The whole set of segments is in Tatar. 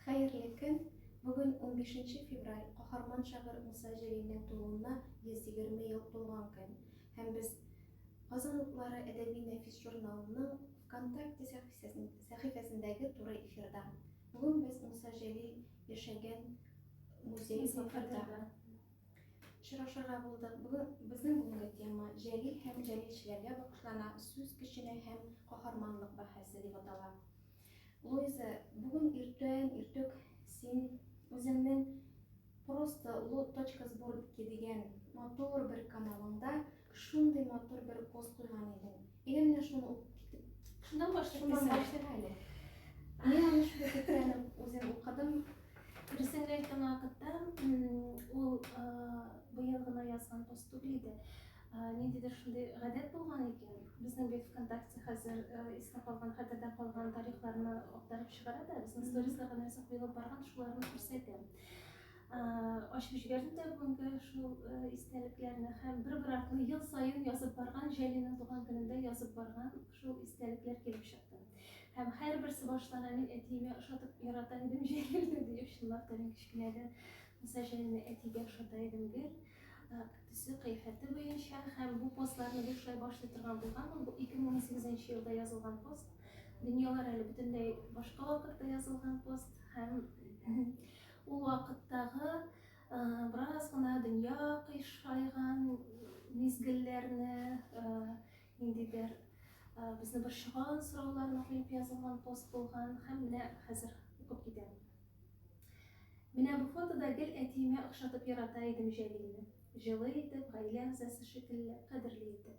Хәерле көн! Бүген 15 февраль каһарман шагыйрь Муса Җәлилнең тууына 120 ел тулган көн. Һәм без Казан утлары әдәби нәфис журналының ВКонтакте сәхифәсендәге туры эфирда. Бүген без Муса Җәлил яшәгән музей сафарда. Очрашырга булдык. Бүген безнең бүгенге тема Җәлил һәм җәлилчеләргә багышлана, сүз көченә һәм каһарманлык бәһасе дип атала. Луиза, бүген иртән иртүк син үзеңнең просто лот точка сборки дигән матур бер каналыңда Шундый матур бер пост куйган идең. Әйдә менә шуны укып китеп. Шуннан башлыйк. Шуннан башлыйк әле. Мин аны шундый көткәнем үзем укыдым. Дөресен әйткән вакытта ул быел гына язган пост түгел иде. Ниндидер шундый гадәт булган икән. Безнең бит ВКонтакте хәзер искә калган, хәтердә калган тарихларны актарып чыгара да, безнең сторисларга нәрсә куелып барган, шуларны күрсәтә. Ачып җибәрдем дә бүгенге шул истәлекләрне һәм бер бер артлы ел саен язып барган Җәлинең туган көнендә язып барган шул истәлекләр килеп чыкты. Һәм һәрберсе баштана мин әтиемә ошатып ярата идем Җәлилне диеп чынлап та мин кечкенәдән Муса Җәлилне әтигә ошата идем гел төсе кыйфәте буенча һәм бу постларны бушлай башлый торган булганмын. Бу 2018 елда язылган пост. Дөньялар әле бөтенләй башка вакытта язылган пост һәм Ул вакыттагы бераз гына дөнья кыйшайган мизгелләрне, ниндидер безне борчыган сорауларны куеп язылган пост булган һәм менә хәзер укып китәм. Менә бу фотода гел әтиемә охшатып ярата идем Җәлилне. Җылы итеп, гаилә әгъзасы шикелле, кадерле итеп.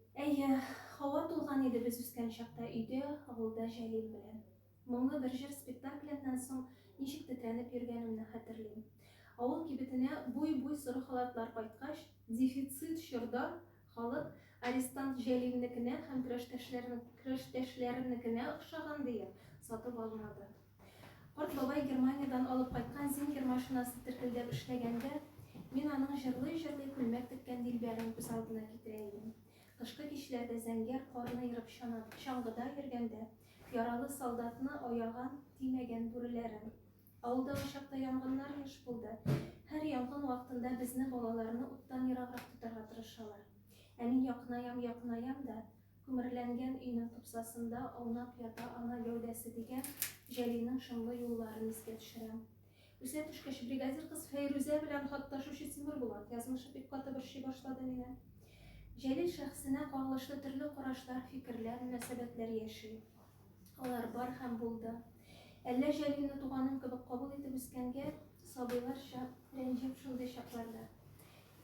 Әйе, һава тулган иде без үскән чакта өйдә, авылда Җәлил белән. Моңлы бер җыр спектакльннан соң ничек тетрәнеп йөргәнемне хәтерлим. Авыл кибетенә буй-буй соры халатлар кайткач, дефицит чорда халык арестант Җәлилнекенә һәм крәштәшләренекенә охшаган диеп, сатып алмады. Карт бабай Германиядән алып кайткан зингер машинасы теркелдәп эшләгәндә, мин аның җырлый-җырлый күлмәк теккән дилбәрен күз алдына китерә идем. Кышкы кичләрдә зәңгәр карны ерып чаңгыда йөргәндә, яралы солдатны аяган, тимәгән бүреләрен. Авылда ул чакта янгыннар еш булды. Һәр янгын вакытында безне, балаларны уттан ераграк тотарга тырышалар. Ә мин якынаям-якынаям да, Күмерләнгән өйнең тупсасында аунап ята ана гәүдәсе, дигән Җәлилнең шомлы юлларын искә төшерәм. Үсә төшкәч, бригадир кыз Фәйрүзә белән хат ташучы Тимербулат язмышы бик каты борчый башлады мине. Җәлил шәхесенә кагылышлы төрле карашлар, фикерләр, мөнәсәбәтләр яши. Алар бар һәм булды. Әллә Җәлилне туганым кебек кабул итеп үскәнгә, сабыйларча рәнҗеп шундый чакларда.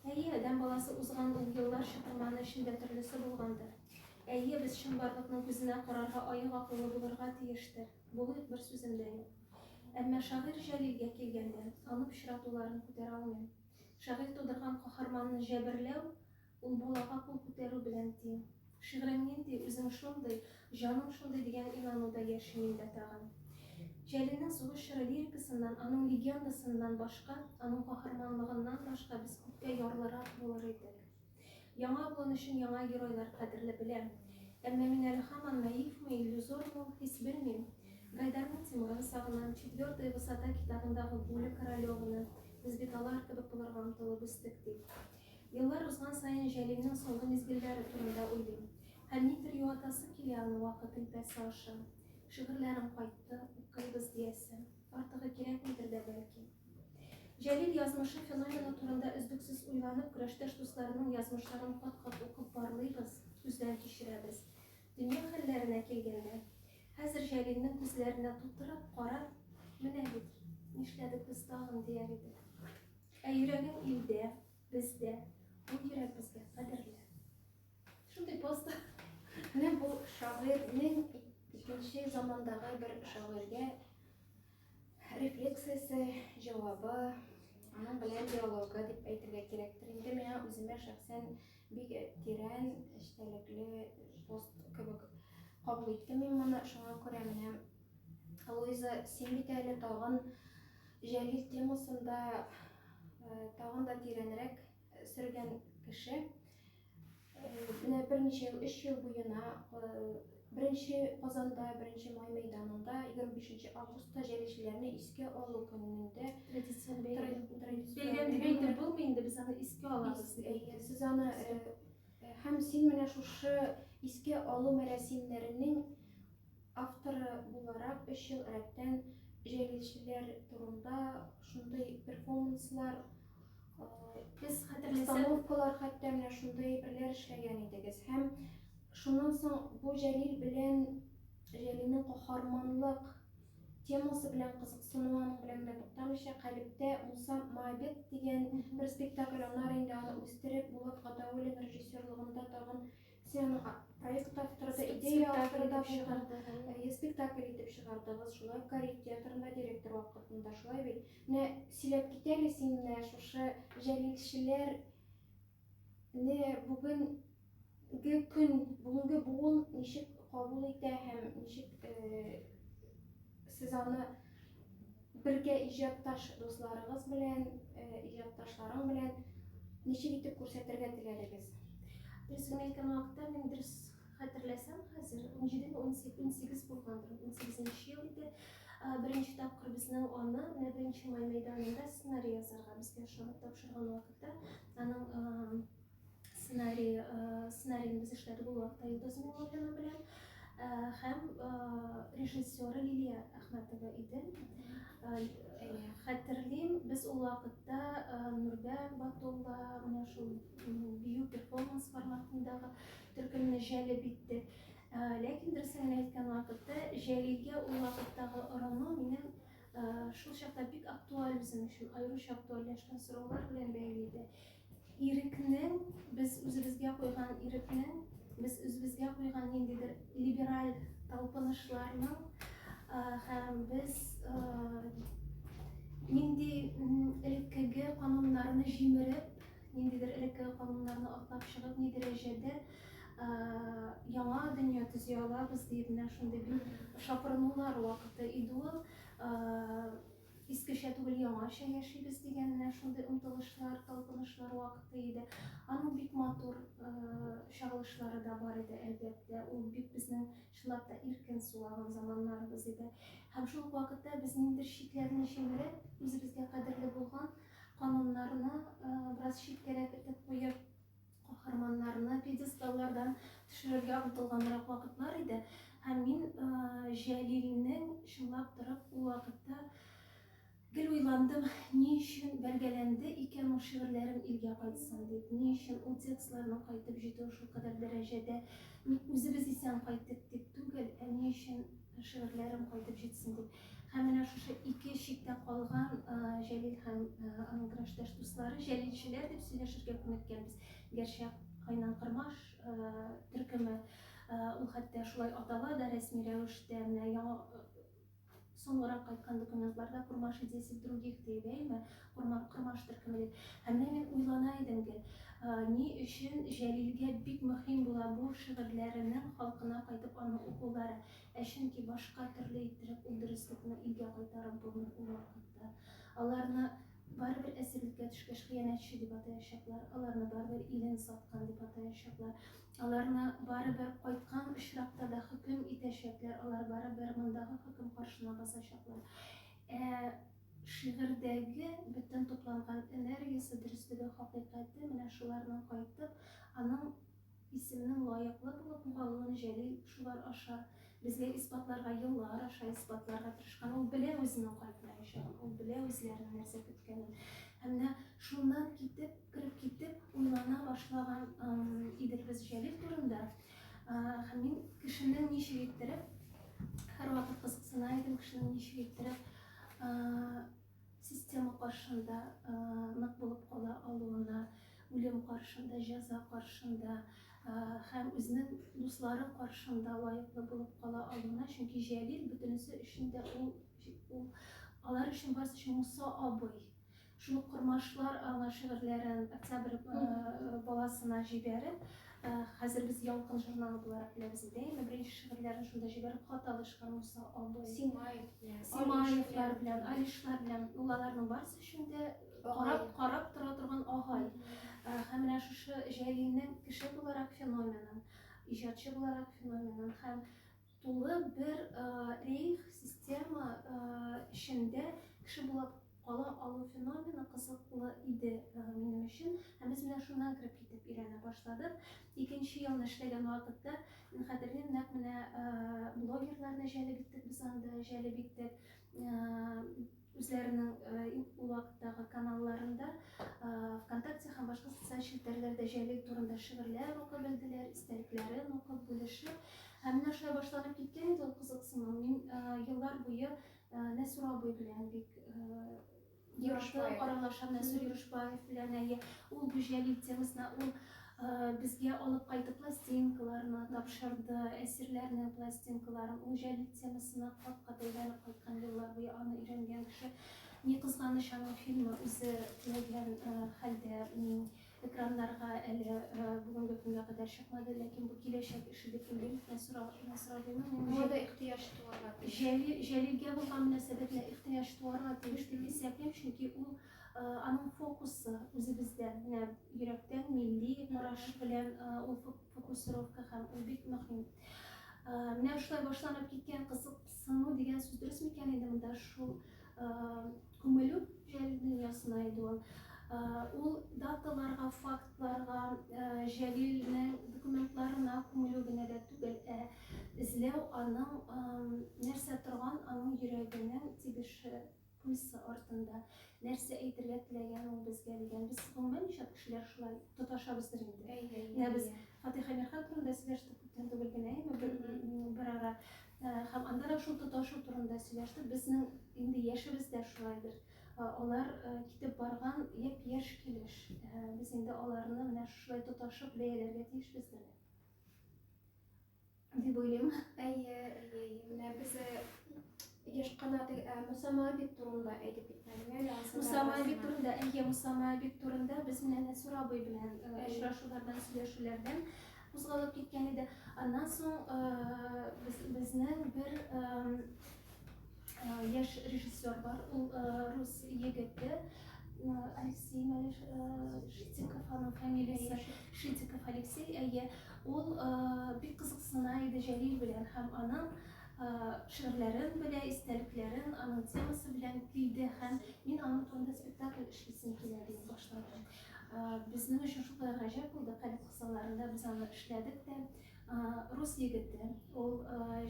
Әйе, адәм баласы узган ул еллар чытырманы эчендә төрлесе булгандыр. Әйе, без чынбарлыкның күзенә карарга аек акыллы булырга тиештер. Булыйк, бер сүзем дә юк. Әмма шагыйрь Җәлилгә килгәндә, аны пычратуларын күтәрә алмыйм. Шагыйрь тудырган каһарманны җәберләү, ул балага кул күтәрү белән тиң. Шигърең нинди, үзең шундый, җаның шундый дигән инануда яшим миндә тагын. Җәлилнең Сугыш чоры лирикасыннан, аның легендасыннан башка, аның каһарманлыгыннан башка без күпкә ярлырак булыр идек. Яңа буын өчен яңа геройлар кадерле, беләм. Әмма мин әле һаман наивмы, иллюзормы ул хис, белмим. Гайдарның Тимурын сагынам, Четвертая высота китабындагы Гуля Королеваны, без бит алар кебек булырга омтылып үстек, дип. Еллар узган саен Җәлилнең соңгы мизгелләре турында уйлыйм. Һәм нидер юатасы килә аны вакыт элпәсе аша. Шигырьләрем кайтты, укыйбыз, диясе. Артыгы кирәкмидер дә бәлки. Җәлил язмышы феномены турында өзлексез уйланып, көрәштәш дусларының язмышларын кат-кат укып барлыйбыз, күздән кичерәбез. Дөнья хәлләренә килгәндә, хәзер Җәлилнең күзләренә тутырып карап, Менә бит, нишләдек без тагын, дияр идек. Ә йөрәгең илдә, бездә, бу йөрәк безгә кадерле. Шундый пост. Менә бу шагыйрьнең икенче замандагы бер шагыйрьгә рефлексиясе, җавабы, аның белән диалогы дип әйтергә кирәктер. Инде миңа үземә шәхсән бик тирән, эчтәлекле пост кебек кабул иттем мин моны. Шуңа күрә менә Луиза, син бит әле тагын Җәлил темасында тагын да тирәнрәк сөргән кеше. Менә берничә ел, өч ел буена беренче Казанда, беренче Май мәйданында 25 августта җәлилчеләрне искә алу көнендә традицион бәйрәм дип әйтеп булмый инде, без аны искә алабыз. Сез аны һәм син менә шушы искә алу мәрәсимнәренең Авторы буларак өч ел рәттән җәлилчеләр турында шундый перфоманслар, постановкалар хәтта менә шундый әйберләр эшләгән идегез. Һәм шуннан соң бу Җәлил белән Җәлилнең каһарманлык темасы белән кызыксынуы аның белән генә туктамыйча, Калебтә Муса Мабет дигән бер спектакль, аннары инде аны үстереп Булат Гатауллин режиссерлыгында тагын Син проект авторы да, идея авторы да булдың, спектакль итеп чыгардыгыз, шулай ук Карит театрында директор вакытында, шулай бит. Менә сөйләп кит әле син менә шушы җәлилчеләрне бүгенге көн, бүгенге буын ничек кабул итә һәм ничек сез аны Бергә иҗатташ дусларыгыз белән, иҗатташларың белән ничек итеп күрсәтергә теләдегез? Дөрес кенә әйткән вакытта, мин дөрес хәтерләсәм, хәзер 17-18 булгандыр, 18 ел иде. Беренче тапкыр безнең аны менә беренче май мәйданында сценарий язарга безгә ошатып тапшырган вакытта, аның сценарий, э, сценарийны без эшләдек ул вакытта Йолдыз Миңнуллина белән э, һәм э, режиссеры Лилия Әхмәтова иде. Хәтерлим, без ул вакытта Нурбә Батулла менә шул бию перформанс форматындагы төркемне җәлеп итте. Ләкин дөресен әйткән вакытта Җәлилгә ул вакыттагы орану минем шул чакта бик актуаль үзем өчен аеруча актуальләшкән сораулар белән бәйле иде. Ирекнең, без үзебезгә куйган ирекнең, без үзебезгә куйган ниндидер либераль талпынышларның һәм без нинди элеккеге кануннарны җимереп, ниндидер элеккеге кануннарны атлап чыгып, ни дәрәҗәдә яңа дөнья төзи алабыз дип менә шундый бер шапырынулар вакыты иде ул. Искечә түгел, яңача яшибез дигән менә шундый омтылышлар, талпынышлар вакыты иде. Аның бик матур чагылышлары да бар иде, әлбәттә. Ул бик безнең чынлап та иркен сулаган заманнарыбыз иде. Һәм шул вакытта без ниндидер чикләрне җимереп, үзебезгә кадерле булган кануннарны бераз читкәрәк итеп куеп, Каһарманнарны пьедесталлардан төшерергә омтылганрак вакытлар иде. Һәм мин Җәлилнең чынлап торып ул вакытта гел уйландым, ни өчен бәргәләнде икән ул шигырьләрем илгә кайтсын дип, ни өчен ул текстларның кайтып җитүе шул кадәр дәрәҗәдә, ник үзебез исән кайттык дип түгел, ә ни өчен шигырьләрем кайтып җитсен дип. Һәм менә шушы ике чиктә калган Җәлил һәм аның граждаш дуслары җәлилчеләр дип сөйләшергә күнеккәнбез. Гәрчә Кайнан Кырмаш төркеме ул хәтта шулай атала да рәсми рәвештә менә яңа соңрак кайткан документларда Курмаши 10 других дип әйме, Курмаш төркеме дип. Һәм менә мин уйлана идем ки, ни өчен Җәлилгә бик мөһим була бу шигырьләренең халкына кайтып аны укулары. Ә чөнки башка төрле иттереп ул дөреслекне илгә кайтарып булмый ул вакытта. Аларны барыбер әсирлеккә төшкәч хыянәтче дип атаячаклар, аларны барыбер илен саткан дип атаячаклар, аларны барыбер кайткан очракта да хөкем итәчәкләр, алар барыбер мондагы хөкем каршына басачаклар. Ә шигырьдәге бөтен тупланган энергиясе, дөреслеге, хакыйкате менә шуларның кайтып, аның Исемнең лаеклы булып калуын Җәлил шулар аша безгә исбатларга, еллар аша исбатларга тырышкан. Ул белә үзенең кайтмаячагын, ул белә үзләрен нәрсә көткәнен. Һәм менә шуннан китеп, кереп китеп, уйлана башлаган идек без Җәлил турында. Һәм мин кешенең ничек иттереп, һәрвакыт кызыксына идем, кешенең ничек иттереп Система каршында нык булып кала алуына, үлем каршында, җәза каршында һәм үзенең дуслары каршында лаеклы булып кала алуына, чөнки Җәлил бөтенесе өчен дә ул, ул алар өчен барысы өчен Муса абый. Шул кормашлар аңа шигырьләрен Октябрь баласына җибәреп, Хәзер без Ялкын журналы буларак беләбез инде. Әйме, беренче шигырьләрен шунда җибәреп хат алышкан Муса абый. Симаев белән. Симаевлар белән, Алишлар белән. Ул аларның барысы өчен дә карап, карап тора торган агай. Һәм менә шушы Җәлилнең кеше буларак феноменын, иҗатчы буларак феноменын һәм Тулы бер рейх, система эчендә кеше булып кала алу феномены кызыклы иде минем өчен. Һәм без менә шуннан кереп китеп өйрәнә башладык. Икенче елны эшләгән вакытта, хәтерлим, нәкъ менә блогерларны җәлеп иттек без анда, җәлеп иттек. үзләренең ул вакыттагы каналларында ВКонтакте һәм башка социаль челтәрләрдә Җәлил турында шигырьләр укып белделәр, истәлекләрен укып бүлешеп. Һәм менә шулай башланып киткән иде ул кызыксыну. Мин еллар буе Нәсүр абый белән бик Юрышбаев аралашам, Нәсүр Юрышбаев белән әйе. Ул бу Җәлил темасына ул Безгә алып кайтып пластинкаларны тапшырды, әсирләрнең пластинкаларын. Ул җәлил темасына кат-кат әйләнеп кайткан, еллар буе аны өйрәнгән кеше. Ни кызганыч, аның фильмы үзе теләгән хәлдә экраннарга әле бүгенге көнгә кадәр чыкмады, ләкин бу киләчәк эше дип уйлыйм. Мода ихтыяҗ туарга тиеш. Җәлилгә булган мөнәсәбәтне ихтыяҗ туарга тиеш дип исәплим, чөнки ул Аның фокусы үзебездә, менә йөрәктән, милли караш белән ул фокусировка һәм ул бик мөһим. Менә шулай башланып киткән кызыксыну дигән сүз дөрес микән инде монда шул күмелү җәл дөньясына иде ул. Ул даталарга, фактларга, җәлилнең документларына күмелү генә дә түгел, ә эзләү аның нәрсә торган, аның йөрәгенең тибеше Куйсы артында нәрсә әйтергә теләгән ул безгә дигән. Без гомумән ничә кешеләр шулай тоташабыздыр инде. Менә без Фатиха Мирхан турында сөйләштек күптән түгел генә, бер ара. Һәм анда да шул тоташу турында сөйләштек. Безнең инде яшебез дә шулайдыр. Алар китеп барган япь-яшь килеш. Без инде аларны менә шулай тоташып бәяләргә тиешбездер. Дип уйлыйм. Әйе, әйе, менә без еш кына Муса Моабит турында әйтеп китмәдем. Муса Моабит турында, әйе, Муса Моабит турында без менә Нәсүр абый белән очрашулардан, сөйләшүләрдән кузгалып киткән иде. Аннан соң безнең бер Яшь режиссер бар, ул рус егете, Алексей Малеш Шитиков, аның фамилиясе Шитиков Алексей, әйе, ул бик кызыксына иде Җәлил белән һәм аның шигырьләрен белә, истәлекләрен, аның темасы белән килде һәм мин аның турында спектакль эшлисем килә дип башладым. Безнең өчен шулай гаҗәп булды, кадет кысаларында без аны эшләдек тә. Рус егете ул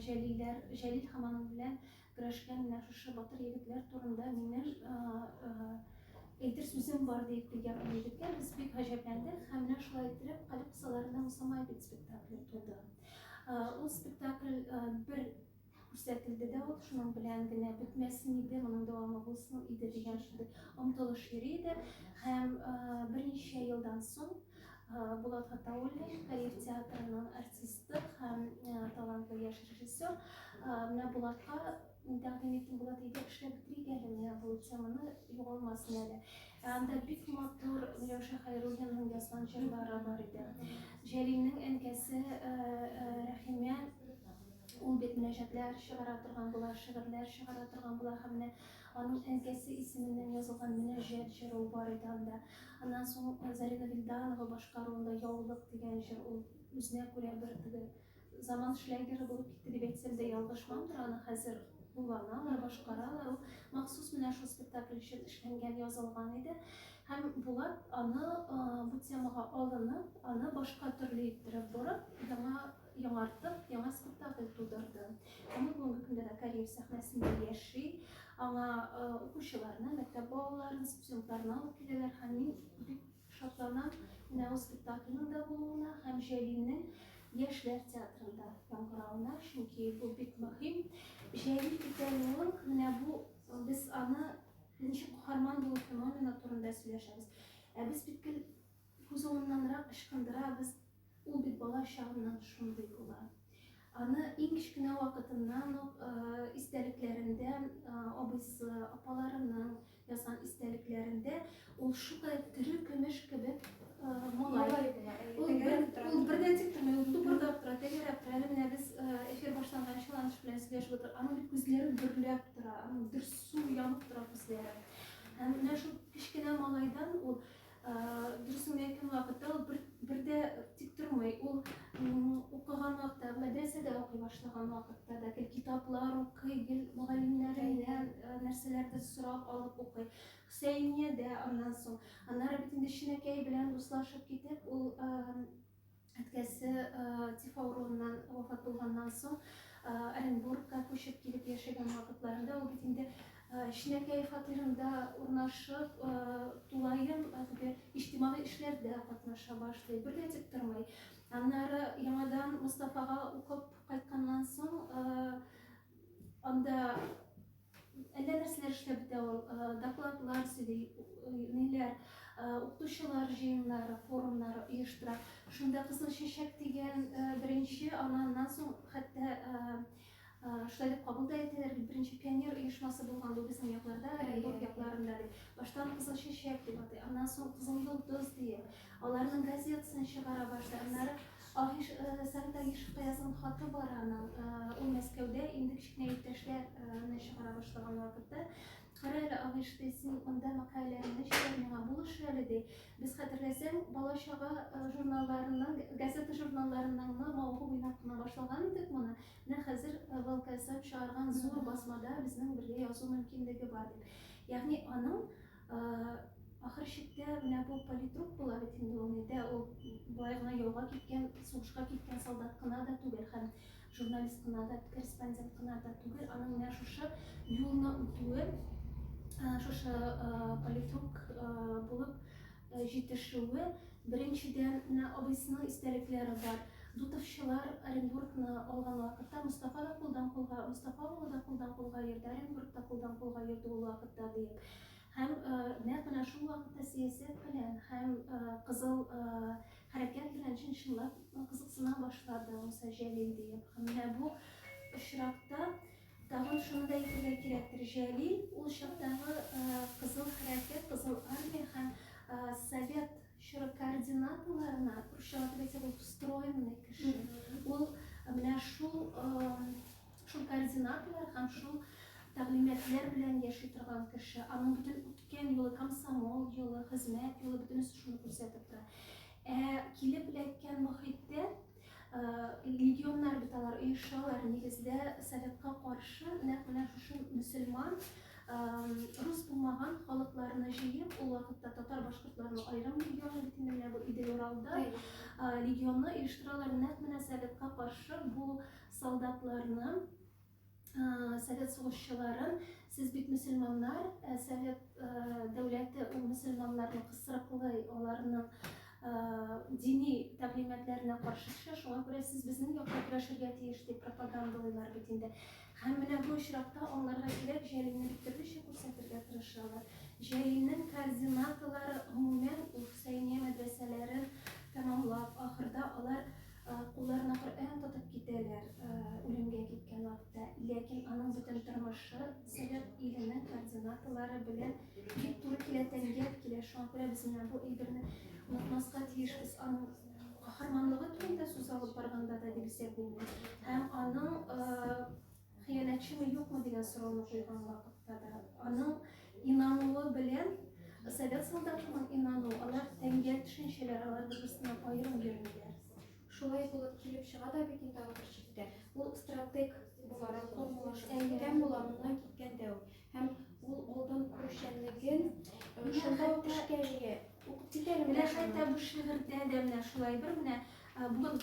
Җәлилләр, Җәлил һәм аның белән көрәшкән менә шушы батыр егетләр турында минем әйтер сүзем бар дип килгән ул егеткә без бик гаҗәпләндек һәм менә шулай иттереп Калеб кысаларында Мусамай бит спектакле туды. Ул спектакль бер күрсәтелде дә ул, шуның белән генә бетмәсен иде, моның дәвамы булсын иде дигән шундый омтылыш йөри иде. Һәм берничә елдан соң Булат Гатауллин, Каир театрының артисты һәм талантлы яшь режиссер, менә Булатка тәкъдим иттем, Булат әйдә эшләп бетерик әле, менә бу теманы югалмасын әле. Ә анда бик матур Миләүшә Хәйруллинның язган җырлары бар иде. Җәлилнең әнкәсе Рәхимә Ул бит мөнәҗәтләр чыгара торган була, шигырьләр чыгара торган була һәм менә аның әнкәсе исеменнән язылган мөнәҗәт җыры бар иде анда. Аннан соң э, Зарина Вильданова башкаруында Яулык дигән җыр ул үзенә күрә бер теге заман шлягеры булып китте дип әйтсәм дә ялгышмамдыр, аны хәзер кулланалар, башкаралар. Ул махсус менә шул спектакль өчен эшләнгән, язылган иде. Һәм Булат аны э, бу темага алынып, аны башка төрле иттереп борып, яңа яңартып, яңа спектакль тудырды. Аны бүгенге көндә дә Кариев сәхнәсендә яши. Аңа э, укучыларны, мәктәп балаларын, студентларны алып киләләр һәм мин бик шатланам менә ул спектакльнең дә булуына һәм Җәлилнең яшьләр театрында яңгыравына, чөнки бу бик мөһим. Җәлил икәнлеген менә бу без аны ничек каһарман булу феномены турында сөйләшәбез. Ә без бит Бозауыннанрак ычкындырабыз, ул бит бала чагыннан шундый була. Аны иң кечкенә вакытыннан ук истәлекләрендә, абыйсы, апаларының язган истәлекләрендә ул шулай тере көмеш кебек малай. Ул бердән тик тормый, ул тупырдап тора, тәгәрәп тора. Әле менә без эфир башланган чыланыш белән сөйләшеп утырдык. Аның бит күзләре дөрләп тора, аның дөрсу янып тора күзләре. Һәм менә шул кечкенә малайдан ул Дөресен әйткән вакытта ул бер, бер дә тик тормый. Ул укыган вакытта, мәдрәсәдә укый башлаган вакытта да гел китаплар укый, гел мөгаллимнәреннән нәрсәләрдер сорап алып укый. Хөсәйния дә аннан соң. Аннары бит инде Шинәкәй белән дуслашып китеп, ул Әткәсе тиф авыруыннан вафат булганнан соң Оренбургка күчеп килеп яшәгән вакытларында ул бит инде кечкенәкәй фатирында урнашып, тулаем теге иҗтимагый эшләрдә катнаша башлый, бер дә тик тормый. Аннары яңадан Мустафага укып кайтканнан соң анда Әллә нәрсәләр эшләп бетә ул. Докладлар сөйли, ниләр, укытучылар җыеннары, форумнары оештыра. Шунда Кызыл чәчәк дигән беренче, аннан соң хәтта шулай дип кабул да итәләр бит, беренче пионер оешмасы булган бу безнең якларда, Оренбург якларында дип. Баштан Кызыл чәчәк дип атый, аннан соң Кызыл йолдыз диеп, аларның газетасын чыгара башлый, аннары Аһиш, Сәгыйть Аһиш Кыязның хаты бар аның, ул Мәскәүдә, инде кечкенә иптәшләр ны чыгара башлаган вакыты. Кара әле, Аһиш, ди, син монда мәкаләләреңне җибәр, миңа булыш әле, ди. Без, хәтерләсәң, бала-чага журналларының, газета-журналларының ны мавыгып уйнап кына башлаган идек моны. Менә хәзер ВЛКСМ чыгарган зур басмада безнең бергә язу мөмкинлеге бар, дип. Ягъни аның Ахыр чиктә менә бу политрук була бит инде ул нидә ул болай гына яуга киткән, сугышка киткән солдат кына да түгел һәм журналист кына да, корреспондент кына да түгел, аның менә шушы юлны үтүе, шушы политрук булып җитешүе, беренчедән менә абыйсының истәлекләре бар. Дутовчылар Оренбургны алган вакытта Мустафа да кулдан кулга, Мустафа улы да кулдан кулга йөрде, Оренбург та кулдан кулга йөрде ул вакытта диеп. Һәм нәкъ менә шул вакытта сәясәт белән һәм кызыл хәрәкәт белән чын-чынлап кызыксына башлады Муса Җәлил диеп. Һәм менә бу очракта тагын шуны да әйтергә кирәктер, Җәлил ул чактагы кызыл хәрәкәт, кызыл армия һәм совет чоры координаторларына, русчалатып әйтсәк, ул встроенный кеше. Ул менә шул Шул координаторлар һәм шул тәгълиматлар белән яши торган кеше, аның бөтен үткән юлы, комсомол юлы, хезмәт юлы, бөтенесе шуны күрсәтеп тора. Ә килеп эләккән мохиттә легионнар бит алар оешалар, нигездә советка каршы нәкъ менә шушы мөселман рус булмаган халыкларны җыеп, ул вакытта татар башкортларның аерым легионы бит инде менә бу Идел Уралда легионны оештыралар нәкъ менә советка каршы бу Солдатларны, совет сугышчыларын, сез бит мөселманнар, совет дәүләте ул мөселманнарны кысрыклый, аларның дини тәгълиматларына каршы төшә, шуңа күрә сез безнең якта көрәшергә тиеш дип пропагандалыйлар бит инде. Һәм менә бу очракта аңларга кирәк, Җәлилне бик төрлечә күрсәтергә тырышалар. Җәлилнең координаталары гомумән ул Хөсәйния мәдрәсәләрен тәмамлап, ахырда алар Кулларына Коръән тотып китәләр, үлемгә киткән вакытта. Ләкин аның бөтен тормышы Совет иленең координаталары белән бик туры килә, тәнгә килә. Шуңа күрә без менә бу әйберне онытмаска тиешбез. Аның каһарманлыгы турында сүз алып барганда да дип исәплим. Һәм аның Хыянәтчеме, юкмы дигән сорауны куйган вакытта да, аның инануы белән совет солдатының инануы, алар тәңгә төшенчәләр, алар бер-берсеннән аерым йөрмиләр. Шулай булып килеп чыга да бит инде алар чиктә. Ул стратег буларак формулаш әйткән була, моннан киткәндә үк. Һәм ул алдан күрүчәнлеген э, шунда ук эшкә җигә. Укып китәле менә. Менә хәтта бу шигырьдә дә менә шулай бер менә э, бүген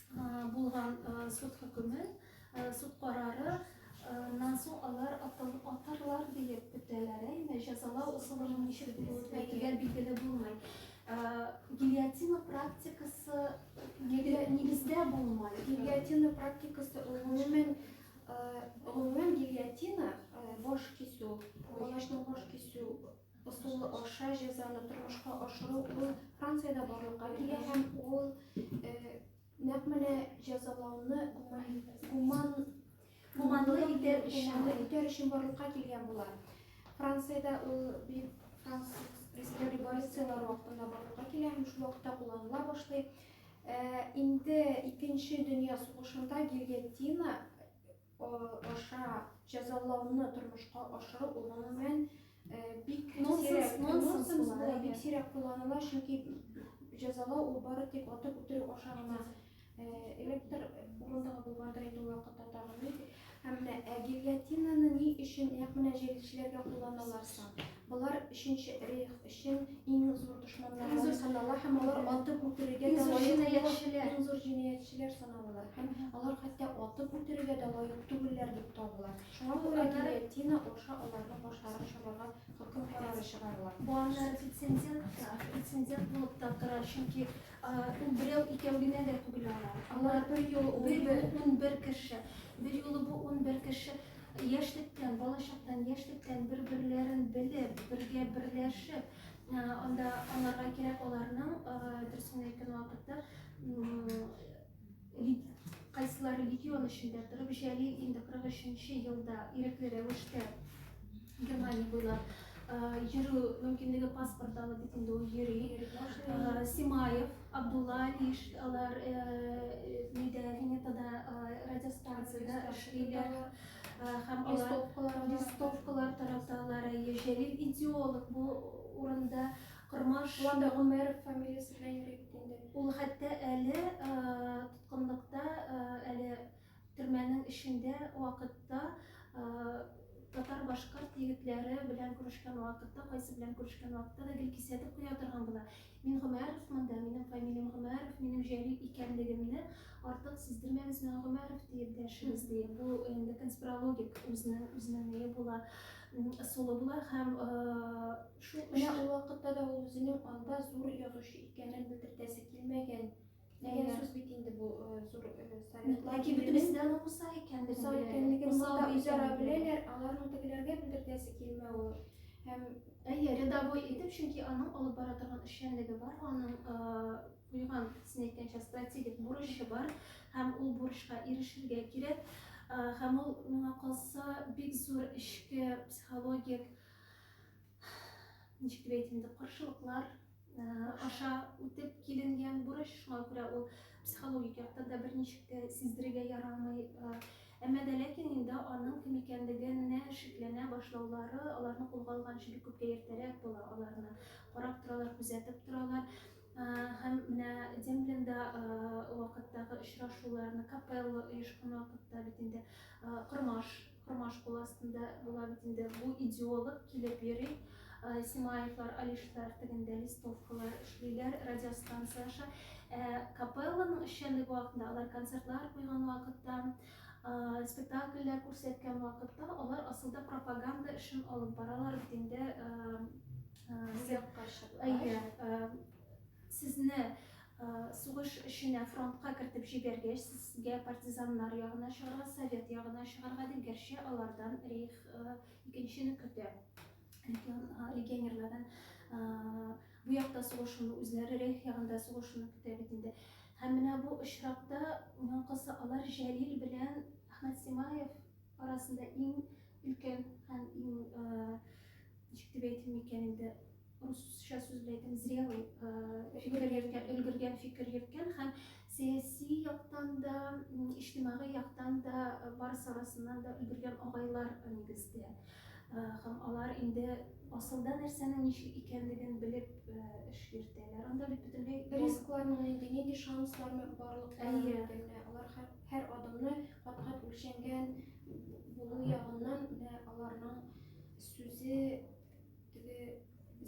булган суд хөкеме, суд карары нан соң алар атарлар диеп көтәләр, әйме җәзалау ысулының ничек булуы тигән билгеле булмый. Гильотина практикасы нигездә булмай. Гильотина практикасы гомумән гомумән гильотина баш кисү, колачның баш кисү Ысулы аша җәзаны тормышка ашыру ул Франциядә барлыкка килә һәм ул нәкъ менә җәзалауны гуман гуманлы итәр өчен барлыкка килгән була. Франциядә ул бит француз президент революцияләр вакытында барлыкка килә һәм шул вакытта кулланыла башлый. Инде икенче дөнья сугышында гильотина аша җәзалауны тормышка ашыру ул гомумән бик сирәк нонсенс була, бик сирәк кулланыла, чөнки җәзалау ул бары тик атып үтерү аша гына электр урындыгы булгандыр инде ул вакытта тагын. Һәм менә гильотинаны ни өчен нәкъ менә җәлилчеләргә кулланалар соң? Болар өченче рейх өчен иң зур дошманнар булып санала һәм алар атып үтерергә дә лаек җинаятьчеләр. Иң зур җинаятьчеләр саналалар һәм алар хәтта атып үтерергә дә лаек түгелләр дип табыла. Шуңа күрә гильотина аша аларның башларын чабарга хөкем карары чыгарыла. Бу аннары рецензент булып та тора, чөнки Ул берәү, икәү генә дә түгел алар. Алар бер юлы унбер кеше. Бер юлы бу унбер кеше яшьлектән, балачактан, яшьлектән бер-берләрен белеп, бергә берләшеп, анда аларга кирәк аларның, дөресен әйткән вакытта, Кайсылары легион эчендә торып, Җәлил инде 43-нче елда ирекле рәвештә Германия буйлап йөрү мөмкинлеге паспорт алып бит инде ул йөри. Симаев, Абдулла Алиш, алар нидә, Венетада радиостанцияда эшлиләр һәм алар листовкалар тараталар. Җәлил идеолог бу урында Кормаш. Ул анда Гомәров фамилиясе белән йөри бит инде. Ул хәтта әле тоткынлыкта, әле төрмәнең эчендә вакытта татар-башкорт егетләре белән күрешкән вакытта, кайсы белән күрешкән вакытта да гел кисәтеп куя торган була. Мин Гомәров монда, минем фамилиям Гомәров, минем Җәлил икәнлегемне артык сиздермәгез миңа Гомәров диеп дәшегез ди. Бу инде конспирологик үзенең үзенең ние була, ысулы була һәм Шул гына ул вакытта да ул үзенең анда зур язучы икәнен белдертәсе килмәгән дигән сүз бит инде бу э, зур э, совет ләкин бөтенесе дә аның уса икәнен уса икәнлеген монда үзара беләләр аларның тегеләргә белдертәсе килмәве һәм әйе рядовой итеп чөнки аның алып бара торган эшчәнлеге бар аның э, куйган син әйткәнчә стратегик бурычы бар һәм ул бурычка ирешергә кирәк һәм ул миңа калса бик зур эчке психологик ничек дип әйтим инде каршылыклар аша үтеп киленгән бурыч шуңа күрә ул психологик яктан да берничек тә сиздерергә ярамый әмма дә ләкин инде аның кем икәнлегенә шикләнә башлаулары аларны кулга алганчы бик күпкә иртәрәк була аларны карап торалар күзәтеп торалар һәм менә дембленда вакыттагы очрашуларны капелла оешкан вакытта бит инде кормаш Тормаш кул астында була бит инде. Бу идеолог килеп йөри. Симаевлар, Алишлар тегендә листовкалар эшлиләр, радиостанция аша. Ә капелланың эшчәнлеге вакытында, алар концертлар куйган вакытта, спектакльләр күрсәткән вакытта, алар асылда пропаганда эшен алып баралар бит инде. Сез Сугыш эшенә фронтка кертеп җибәргәч, сезгә партизаннар ягына чыгарга, совет ягына чыгарга дип, гәрчә алардан рейх икенчене көтә, легионерлардан бу якта сугышуны, үзләре рейх ягында сугышуны көтә бит инде. Һәм менә бу очракта яңкысы алар Җәлил белән Әхмәт Симаев арасында иң өлкән һәм иң, ничек дип әйтим икән инде, русча сүз белән әйтәм, зрелый фикер йөрткән, өлгергән фикер йөрткән һәм сәяси яктан да, иҗтимагый яктан да барысы арасыннан да өлгергән агайлар нигездә. Һәм алар инде асылда нәрсәнең ничек икәнлеген белеп эш йөртәләр. Анда бит бөтенләй рискларның нинди, нинди шансларны барлыкларын алар һәр адымны кат-кат үлчәнгән булу ягыннан аларның сүзе Теге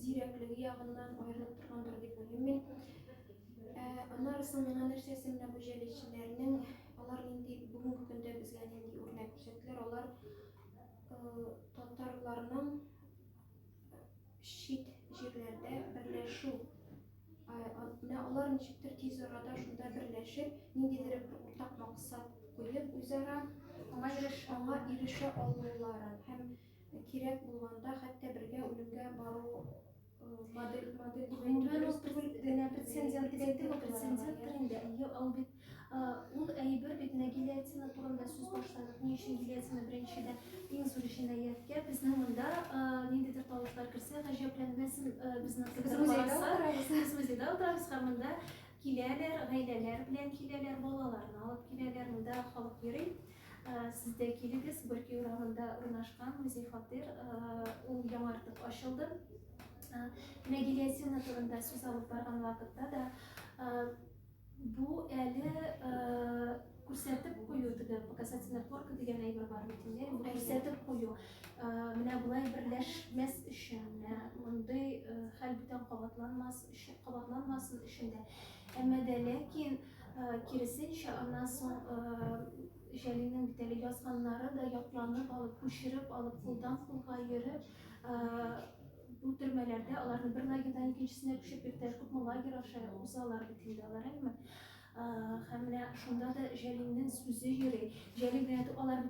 зирәклеге ягыннан аерылып торгандыр дип уйлыйм мин. Ә, аннары соң миңа нәрсәсе менә бу җәлилчеләрнең, алар нинди бүгенге көндә безгә нинди үрнәк күрсәттеләр, алар э, татарларның чит җирләрдә берләшү менә алар ничектер тиз арада шунда берләшеп, ниндидер бер уртак максат куеп, үзара аңа ирешә алуларын һәм Кирәк булганда хәтта бергә үлемгә бару модель модель дигән прецедент дип әйтте прецеденттыр инде әйе ул бит ул әйбер бит менә гильотина турында сүз башладык ни өчен гильотина беренчедә иң зур җинаятькә безнең монда ниндидер тавышлар керсә гаҗәпләнмәсен безнең без музейда утырабыз без музейда утырабыз һәм монда киләләр гаиләләр белән киләләр балаларны алып киләләр монда халык йөри Сез дә килегез, Бөрки урамында урнашкан музей фатир, ул яңартып ачылды. Мәгилиәсина турында сүз алып барган вакытта да бу әле күрсәтеп кую теге показательная флорка дигән әйбер бар бит инде бу күрсәтеп кую менә болай берләшмәс өчен менә мондый хәл бүтән кабатланмас өчен кабатланмасын өчен дә әмма дә ләкин Киресенчә, аннан соң Җәлилнең бит әле язганнары да ятланып алып, күчереп алып, кулдан кулга йөреп, бу төрмәләрдә аларны бер лагерьдан икенчесенә күчеп йөртәләр, күпме лагерь аша узалар бит инде алар, әйеме? Һәм менә шунда да Җәлилнең сүзе йөри. Җәлил генә алар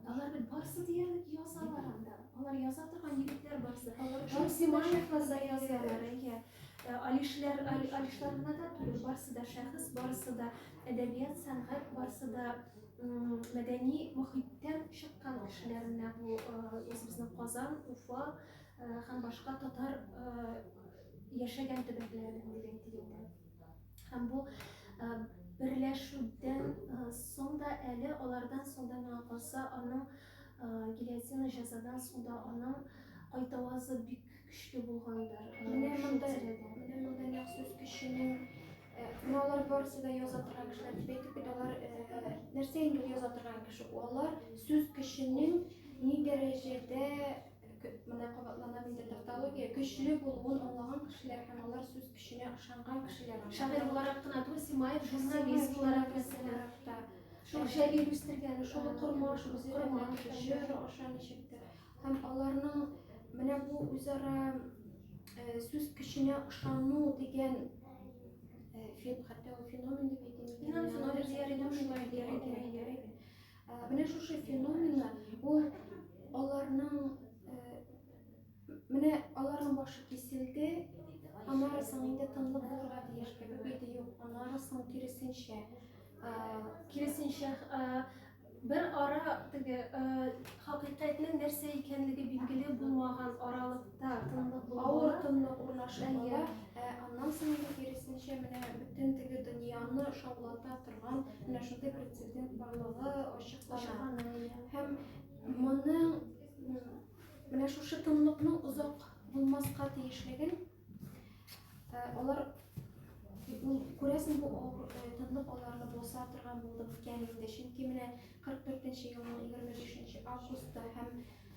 Алар бит барысы диярлек язалар анда. Алар яза торган егетләр барысы. Шамсимаевлар да язалар, әйе. Э, Алишләр, Алишларына да түгел, барысы да шәхес, барысы да әдәбият, сәнгать, барысы да мәдәни мөхиттән чыккан кешеләр менә бу үзебезнең э, Казан, Уфа э, һәм башка татар яшәгән төбәкләренең дигән тигәндә. Һәм бу берләшүдән соң да әле алардан соң да миңа калса аның гильотина җәзадан соң да аның кайтавазы бик көчле булгандыр. Менә монда менә монда махсус кешенең менә алар барысы да яза торган кешеләр дип әйтеп бит алар нәрсә инде яза торган кеше алар сүз кешенең ни дәрәҗәдә Монда кабатланам инде тавтология, көчле булуын аңлаган кешеләр һәм алар сүз көченә ышанган кешеләр. Шагыйрь буларак кына түгел, Симаев журналист буларак мәсәлән. Шул Җәлил үстергән, шул корма, шул корма, җыр аша ничектер. Һәм аларның менә бу үзара сүз көченә ышану дигән фен, хәтта ул феномен дип әйтәм. Феномен дияр идем, шулай дияр идем. Ә, менә шушы феномена ул аларның ә, менә аларның башы киселде, аннары соң инде тынлык булырга тиеш кебек иде юк, аннары соң киресенчә. Ә, киресенчә ә, бер ара теге ә, хакыйкатьнең нәрсә икәнлеге билгеле булмаган аралык Авыр тынлык урнашып ала. Ә аннан соң инде киресенчә менә бөтен теге дөньяны шаулата торган менә шундый прецедент барлыгы ачыклана. Һәм моның менә шушы тынлыкның озак булмаска тиешлеген алар күрәсең бу тынлык аларны боза торган булды икән инде. Чөнки менә 44 елның 25 августта һәм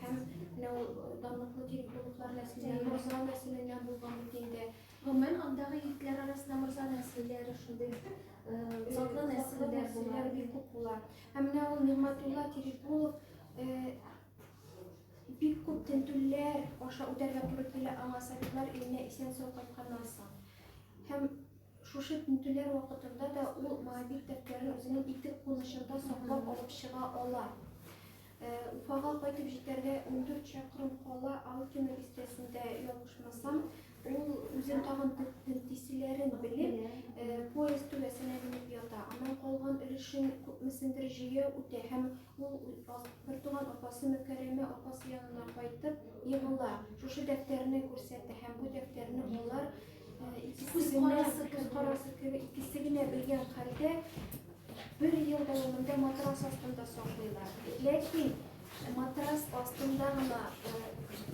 Һәм менә ул данлыклы Тирекбулыклар нәселеннән, Морза нәселеннән булган бит инде. Гомумән, андагы егетләр арасында Морза нәселләре шундый затлы нәселләр булар, бик күп була. Һәм менә ул Нигъмәтулла Тирекбулов бик күп тентүләр аша үтәргә туры килә аңа советлар иленә исән сау кайтканнан соң. Һәм шушы тентүләр вакытында да ул Моабит дәфтәрен үзенең итек кунычында саклап алып чыга ала. Уфага кайтып җитәргә ундүрт чакрым кала, Алкино бистәсендә ялгышмасам, ул үзен тагын тентиселәрен белеп, поезд түбәсенә менеп ята. Аннан калган өлешен күпмесендер җыя үтә һәм ул бертуган апасы Мөкәрәмә апасы янына кайтып егыла. Шушы дәфтәрне күрсәтә һәм бу дәфтәрне болар икесе генә, күз карасы кебек, икесе генә белгән хәлдә Бер ел дәвамында матрас астында саклыйлар. Ләкин матрас астында гына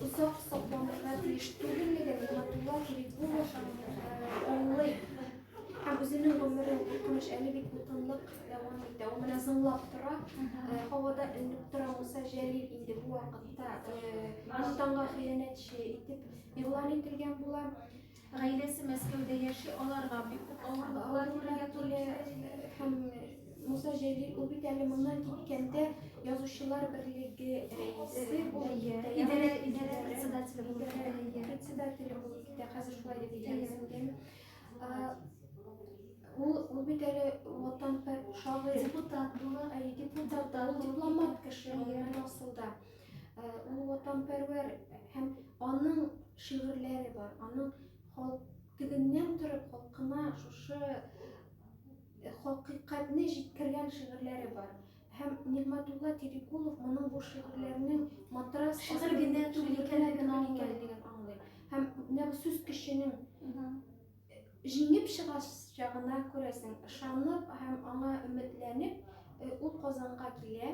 озак сакланырга тиеш түгеллеген Нигматулла Кирикулов аңлый. Һәм үзенең гомерен куркыныч әле бит куркынлык дәвам итә. Ул менә зыңлап тора, һавада элеп тора Муса Җәлил инде бу вакытта Антанга хыянәтче итеп игълан ителгән була. Гаиләсе Мәскәүдә яши, аларга бик күп авырлыклар күрергә туры килә. Һәм Муса Җәлил ул бит әле моннан киткәндә язучылар берлеге рәисе булып китә. Идарә идарә председателе булып китә. Председателе булып китә. Хәзер шулай дип әйтәсең. Ул ул бит әле ватан шагыйрь. Депутат була, депутат, дипломат кеше асылда. Э, ул ватанпәрвәр һәм аның шигырьләре бар, аның халк тегеннән торып халкына шушы э, хакыйкатьне җиткергән шигырьләре бар. Һәм Нигматулла Терекулов моның бу шигырьләренең матрас шигырь генә түгел икәнлеген аңлый. Һәм менә бу сүз көченең җиңеп чыгачагына күрәсең, ышанып һәм аңа өметләнеп, э, ул Казанга килә.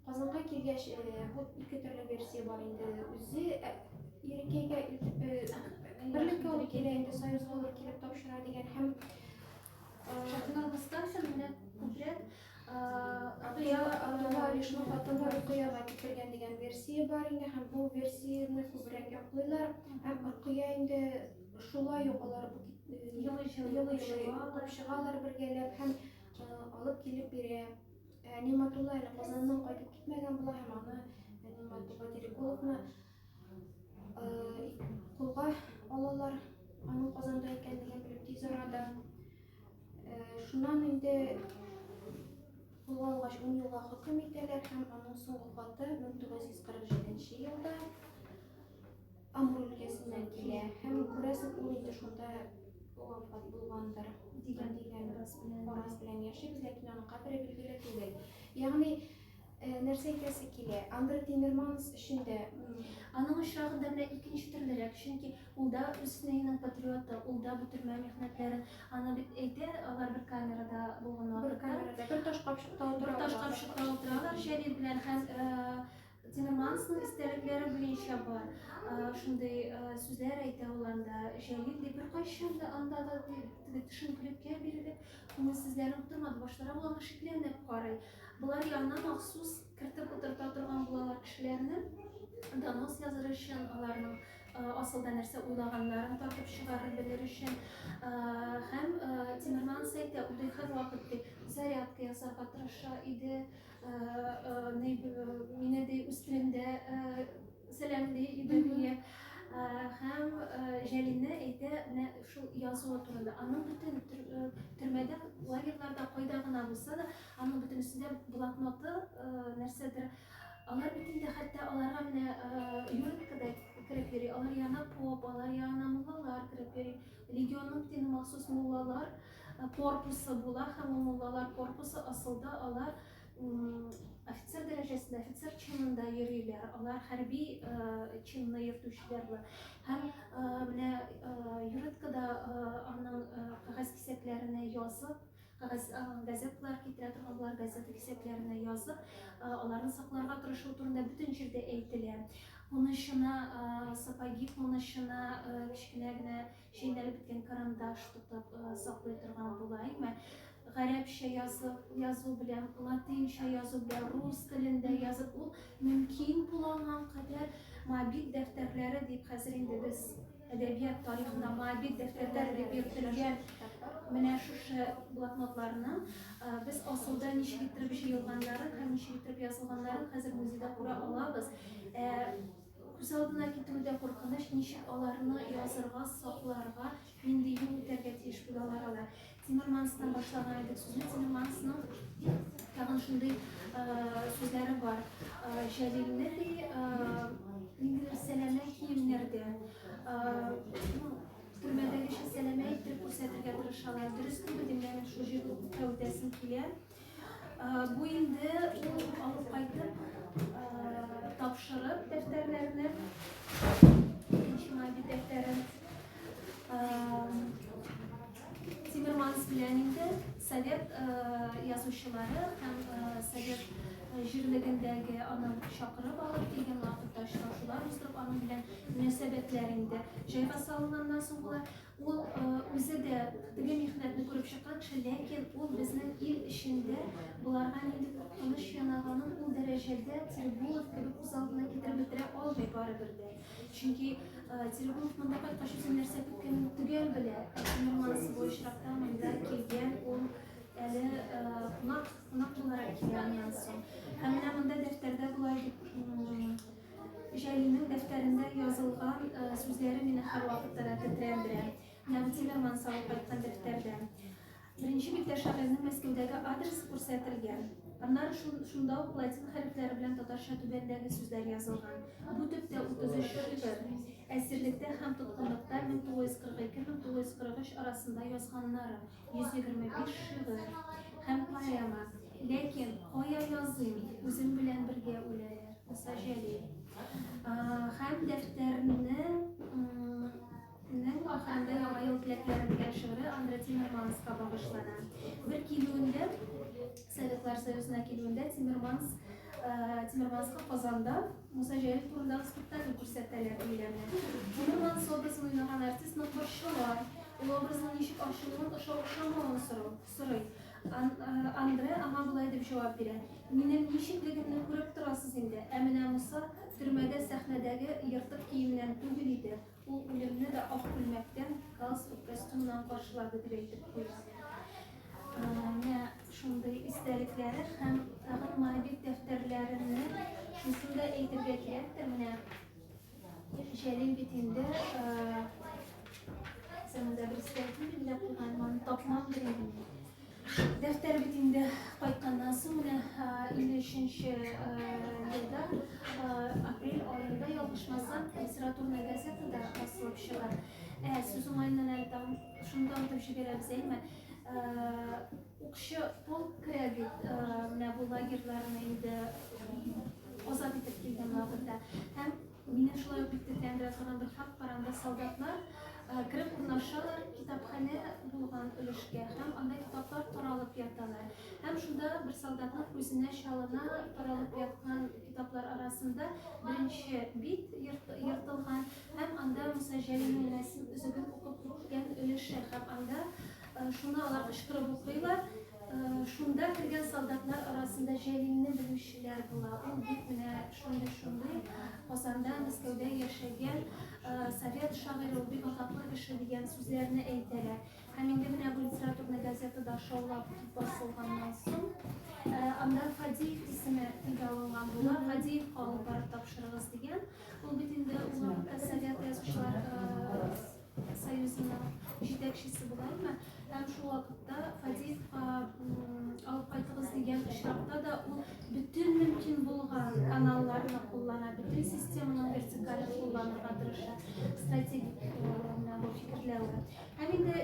Казанга килгәч, бу ике төрле версия бар инде. Үзе Ирекәйгә берлеккә ул килә инде, Союз булып килеп тапшыра дигән һәм Шәһнур Мустафин менә күбрәк Атыя Атуга Ришну хатынга Рукыяга китергән дигән версия бар инде һәм бу версияне күбрәк яклыйлар һәм Рукыя инде шулай ук алар елый-елый капшыгалар бергәләп һәм алып килеп бирә. Ә Нигъмәтулла әле Казаннан кайтып китмәгән була һәм аны Нигъмәтулла Терекуловны кулга алалар. Аның Казанда икәнлеген белеп тиз арада. Шуннан инде кулга алгач 10 елга хөкем итәләр һәм аның соңгы каты 1947 елда Амур өлкәсеннән килә һәм күрәсең ул инде шунда вафат булгандыр дигән дигән фараз белән яшибез, ләкин аның кабере билгеле түгел. Ягъни э, нәрсә әйтәсе килә? Андре Тимерманс өчен дә Аның очрагында менә икенче төрлерәк, чөнки ул да Русиненың патриоты, ул да бу төрмә михнәтләрен, аны бит әйтә, алар бер камерада булган бер камерада бер таш капчыкта бер таш капчыкта утыралар Җәлил белән һәм э, Тилемансның истәлекләре буенча бар. Шундый сүзләр әйтә ул анда. Җәлил дип беркайчан да анда да теге төшенкелеккә бирелеп, күңелсезләнеп утырмады. Башлары булган шикләнеп карый. Болар янына махсус кертеп утырта торган булалар кешеләрне. Донос языр өчен, аларның асылда нәрсә уйлаганнарын тартып чыгарып белер өчен. Һәм Тимерманс әйтә, үтә хәр вакыт дип зарядка ясарга тырыша иде. Мине ди үстеремдә сәламли Идәния һәм Җәлинә әйтә менә шул язуы турында. Аның бөтен төрмәдә, лагерьларда кайда гына булса да, аның бөтен өстендә блокноты, нәрсәдер алар бөтен дә хәтта аларга менә юрткада кереп йөри. Алар янына поп, алар янына муллалар кереп йөри. Легионның тине махсус муллалар. корпусы була һәм ул муллалар корпусы асылда алар офицер дәрәҗәсендә офицер чинында йөриләр алар хәрби э, чинны йөртүчеләр бар һәм э, менә э, юридкада аның кәгазь кисәкләренә язып кәгазь газетлар китерә торган болар газета кисәкләренә язып аларны сакларга тырышу турында бөтен җирдә әйтелә кунычына сапоги кунычына кечкенә генә Чәйнәлеп беткән карандаш тотып саклый торган була, әйме? Гарәпчә язып, язу белән, латинча язу белән, рус телендә язып, ул мөмкин булган кадәр мобиль дәфтәрләре дип хәзер инде без әдәбият тарихында мобиль дәфтәрләр дип йөртелгән менә шушы блокнотларны без асылда ничек иттереп җыелганнарын һәм ничек иттереп язылганнарын хәзер музейда күрә алабыз. Күз алдына китерү дә куркыныч, ничек аларны язырга, сакларга, нинди юл үтәргә тиеш бит алар алар. Тимерманстан башлаган идек сүзне, Тимермансның тагын шундый сүзләре бар. Җәлилне ди, ниндидер сәләмә киемнәрдә, төрмәдәгечә сәләмә иттереп күрсәтергә тырышалар. Дөрес түгел, димләрен шул җир кәүдәсен килә. Бу инде ул алып кайтып тапшырып дәфтәрләрне, икенче мобиль дәфтәрен. Тимерманс белән инде совет язучылары һәм совет җирлегендәге аны чакырып алып килгән вакытта очрашулар уздырып аның белән мөнәсәбәтләр инде җайга салынганнан соң була. Ул үзе дә теге михнәтне күреп чыккан кеше, ләкин ул безнең ил эчендә боларга нинди куркыныч янаганын ул дәрәҗәдә Тирбулов кебек күз алдына китереп бетерә алмый барыбер дә. Чөнки Тирбулов монда кайткач үзе нәрсә көткәнен төгәл белә. Нормансы бу очракта монда килгән ул әле кунак кунак буларак килгәннән соң. Һәм менә монда дәфтәрдә болай дип Җәлилнең дәфтәрендә язылган сүзләре мине һәрвакытта да тетрәндерә. Нәгъди дәрман салып кайткан дәфтәрдә. Беренче биттә шагыйрьнең Мәскәүдәге адресы күрсәтелгән. Аннары шунда ук латин хәрефләре белән татарча түбәндәге сүзләр язылган. Бу төптә 33 шигырь. Әсирлектә һәм тоткынлыкта 1942-1943 арасында язганнары. 125 шигырь һәм поэма, ләкин кая языйм, үзем белән бергә үләләр, Муса Җәлил. Һәм дәфтәрнең ахырында яңа ел теләкләрен дигән шигыре Андре Тимерманска багышлана. Бер килүендә, Советлар Союзына килүендә Тимерманс Тимерманска Казанда Муса Җәлил турындагы спектакль күрсәтәләр, диеләме? Гомумән, Собразын уйнаган артистны борчыла, ул образның ничек ачылуын, ошау-ошамавын сорау, сорый. Ан, Андре аңа болай дип җавап бирә, Минем ничеклегемне күреп торасыз инде, ә менә Муса төрмәдә сәхнәдәге ертык киеменнән түгел иде. Ул үлемне дә ак күлмәктән, галстук, костюмнан каршылады дип әйтеп куйыйк. Менә шундый истәлекләре һәм тагын мобиль дәфтәрләренне шусын да әйтергә кирәктер, менә Җәлил бит инде заманда бер стәкү белән куйган, маны тапмам дип Дәфтәр бит инде кайтканнан соң менә 53-нче елда апрель аенда ялгышмасам, литературная газетада басылып чыга. Ә сүз уңаеннан әле тагын шунда үтеп җибәрәбез, әйме? Укчы полк керә бит менә бу лагерьларны инде азат итеп килгән вакытта. Һәм Мине шулай ук иттеркән бераздан бер хат бар, анда солдатлар кереп урнашалар китапханә булган өлешкә һәм анда китаплар таралып яталар. Һәм шунда бер солдатның күзенә чалына таралып яткан китаплар арасында беренче бит ертылган һәм анда Муса Җәлилнең рәсем өзеген укып киткән өлеше һәм анда Шуны алар кычкырып укыйлар. Шунда кергән солдатлар арасында Җәлилне белүчеләр була. Ул бит менә шундый-шундый Казанда, Мәскәүдә яшәгән совет шагыйре, ул бик атаклы кеше дигән сүзләрне әйтәләр. Һәм инде менә бу литературный газетада шаулап басылганнан соң, анда Фадеев исеме телгә алынган була. Фадеевка алып барып тапшырыгыз дигән. Ул бит инде ул вакытта совет язучылар Союзының җитәкчесе булаймы? Һәм шул вакытта Фадеевка алып кайтыгыз дигән очракта да ул бөтен мөмкин булган каналларны куллана, бөтен системаның вертикален кулланырга тырыша, стратегик фикерләве. Һәм инде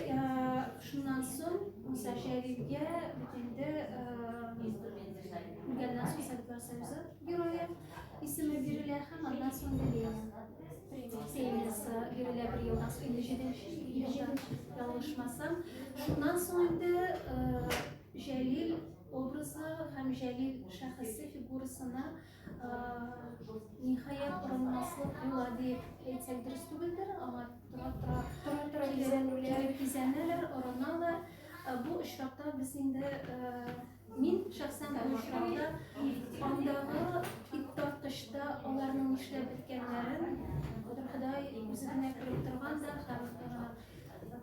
шуннан соң Муса Шәрифгә бит инде Советлар Союзы герое Исеме бирелә һәм аннан соң Лилия премиясе бирелә бер елдан соң, инде җиденче ел, ялгышмасам. Шуннан соң инде Җәлил образы һәм Җәлил шәхесе фигурасына ниһаять орынмаслык була дип әйтсәк дөрес түгелдер, аңа тора-тора кизәнүләр, кизәнәләр, орыналар. Бу очракта без инде Мин шәхсән бу очракта андагы ит тарткычта аларның нишләп беткәннәрен Ходай үзе генә күреп торган да һәм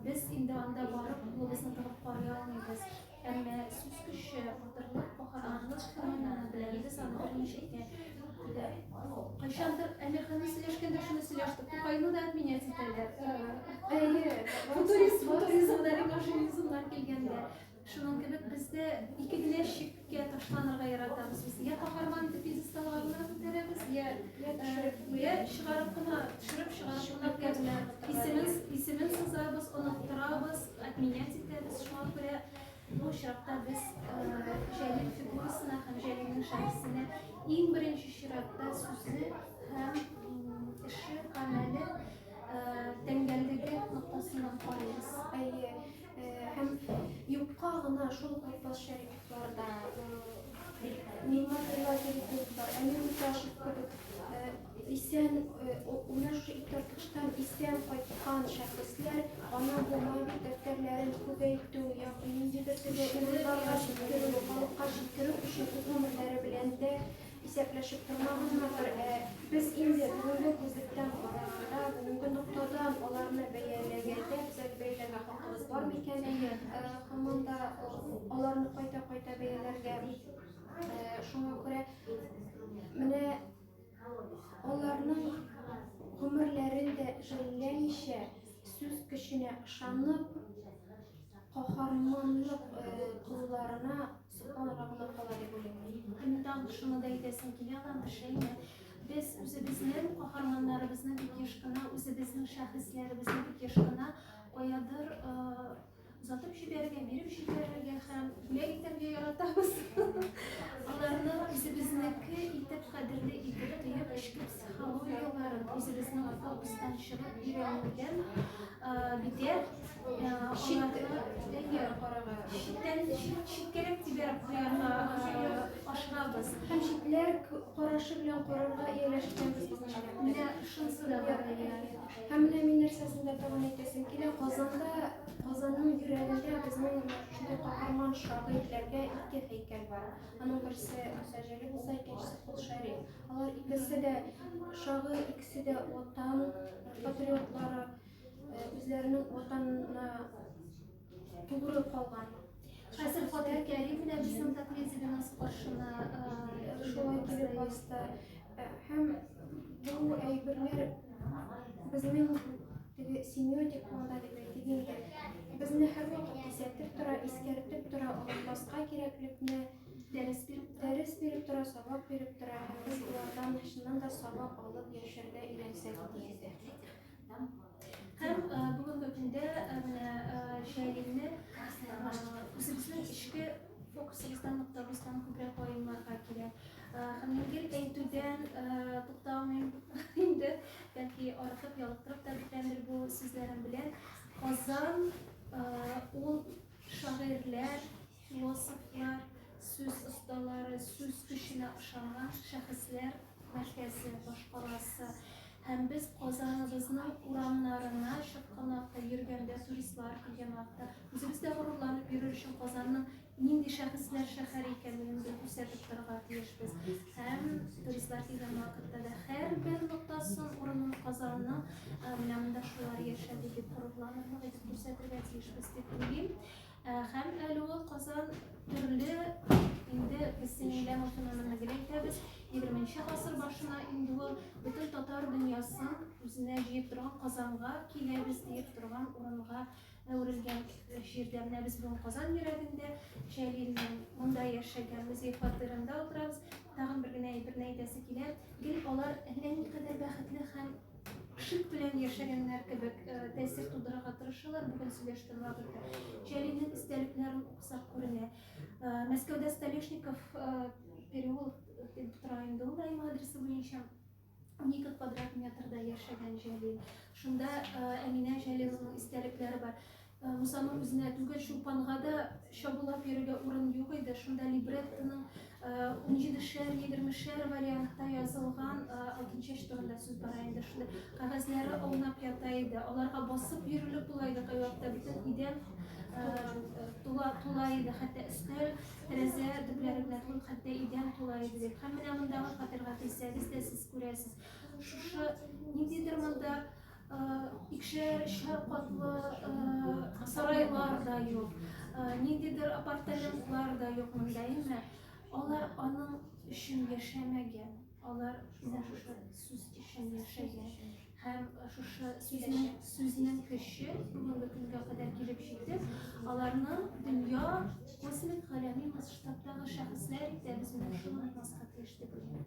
без инде анда барып кулыбызны тыгып карый алмыйбыз. Әмма сүз көче, батырлык, каһарманлык феномены беләбез аны берничә итә. Кайчандыр Әмирханны сөйләшкәндә шуны сөйләштек. Тукайны да отменять итәләр. Футуризм, футуризм, да машинизмнар килгәндә. Шуның кебек без дә ике генә шиккә ташланырга яратабыз. Без я каһарман итеп пьедесталга гына күтәрәбез, я я чыгарып кына, төшереп чыгарып кына күтәрә. Исемен исемен сызабыз, оныттырабыз, отменять итәбез. Шуңа күрә бу очракта без Җәлил фигурасына һәм Җәлилнең шәхесенә иң беренче чиратта сүзе һәм эше, гамәле тәңгәллеге ноктасыннан карыйбыз. Әйе. Һәм юкка гына шул Габбас Шәрифларда, Нигмат Рилатиликлар, Әмир Муташев кебек исән, менә шушы иптәштән исән кайткан шәхесләр ана бу мәңгелек дәфтәрләрен күбәйтү, ягъни ниндидер төрле уйларга җиткерү, халыкка җиткерү өчен үз гомерләре белән дә Исәпләшеп тормагызмы, ә без инде бүгенге күзлектән караганда, бүгенге ноктадан аларны бәяләгәндә, төзәтеп бәяләргә хакыбыз бар микән? Һаман да аларны кайта-кайта бәяләргә. Шуңа күрә менә аларның гомерләрен дә жәлләмичә, сүз көченә ышанып, каһарманлык кылларына Сукаларга гына кала дип уйлыйм. Һәм мин тагын шуны да әйтәсем килә, Аллам шәйме, без үзебезнең каһарманнарыбызны бик еш кына, үзебезнең шәхесләребезне бик еш кына каядыр озатып җибәрергә, биреп җибәрергә һәм бүләк итәргә яратабыз. Аларны үзебезнеке итеп, кадерле итеп тоеп, эчке Психологияләре үзебезнең фокустан чыгып өйрәнелгән битәр читтән читкәрәк тибәрәк куярга ашыгабыз һәм читләр карашы белән карарга ияләшкәнбез менә шунысы да бар һәм менә мин нәрсәсен дә тәкъдим итәсем килә казанда казанның йөрәгендә безнең шундый каһарман шагыйрьләргә ике һәйкәл бар аның берсе мөсәҗәли булса икенчесе кол шәриф Алар икесе дә шагыйрь, икесе дә ватан патриотлары, үзләренең ватанына тугры калган. Хәзер Фатих Кәрим дә безнең Токмедиганс каршына шулай килеп басты. Һәм бу әйберләр безнең теге семиотик планда дип әйтик инде, безне һәрвакыт кисәтеп тора, искәртеп тора, онытмаска кирәклекне. Дәрес биреп тора. Дәрес биреп тора, сабак биреп тора. Һәм без болардан чыннан да сабак алып яшәргә өйрәнсәк иде инде. Һәм бүгенге көндә менә Җәлилне үзебезнең эчке фокусыбыздан ноктабыздан күбрәк ваемларга кирәк. Һәм гел әйтүдән тукталмыйм инде, бәлки артык ялыктырып та беткәндер бу сүзләрем белән. Казан ул шагыйрьләр, Философлар, сүз осталары, сүз көченә ышанган шәхесләр мәркәзе башкаласы һәм без Казаныбызның урамнарына чыккан вакытта, йөргәндә туристлар килгән вакытта, үзебез дә горурланып йөрер өчен Казанның нинди шәхесләр шәһәре икәнлеген без күрсәтеп торырга тиешбез. Һәм туристлар килгән вакытта да һәрбер ноктасын урынын Казанның менә монда шулар яшәде дип горурланып күрсәтергә тиешбез дип уйлыйм. Һәм әле ул Казан төрле инде без синейлә машиналарны гел әйтәбез, 20 гасыр башына инде ул бөтен татар дөньясын үзенә җыеп торган Казанга киләбез диеп торган урынга әверелгән җирдә менә без бүген Казан йөрәгендә Җәлилнең монда яшәгән музей фатирында утырабыз. Тагын бер генә әйберне әйтәсе килә. Гел алар әллә никадәр бәхетле һәм шик белән яшәгәннәр кебек тәэсир тудырырга тырышалар. Бүген сөйләште Лагерда. Җәлилнең истәлекләрен укысак күренә. Мәскәүдә Столешников переулок дип тора инде ул Наим адресы буенча. 12 квадрат метрда яшәгән Җәлил. Шунда Әминә Җәлиловның истәлекләре бар. Мусаның үзенә түгел, Чулпанга да чабулап йөрергә урын юк иде. Шунда либреттоның унҗидешәр, егермешәр вариантта язылган алтын чәч турында сүз бара инде. Шунда кәгазьләре аунап ята иде. Аларга басып йөрелеп була иде кайвакытта бөтен идән тула тула иде, хәтта өстәл, тәрәзә төпләре белән ул хәтта идән тула иде дип. Һәм менә мондагы фатирга килсәгез дә сез күрәсез. Шушы ниндидер монда икешәр, өчәр катлы сарайлар да юк, ниндидер апартаментлар да юк монда, әмма алар аның өчен яшәмәгән, алар менә шушы сүз өчен яшәгән. Һәм шушы сүзнең сүзнең көче бүгенге көнгә кадәр килеп җитеп, аларны дөнья космик галәми масштабтагы шәхесләр итә без менә шуны аңласка тиеш дип уйлыйм.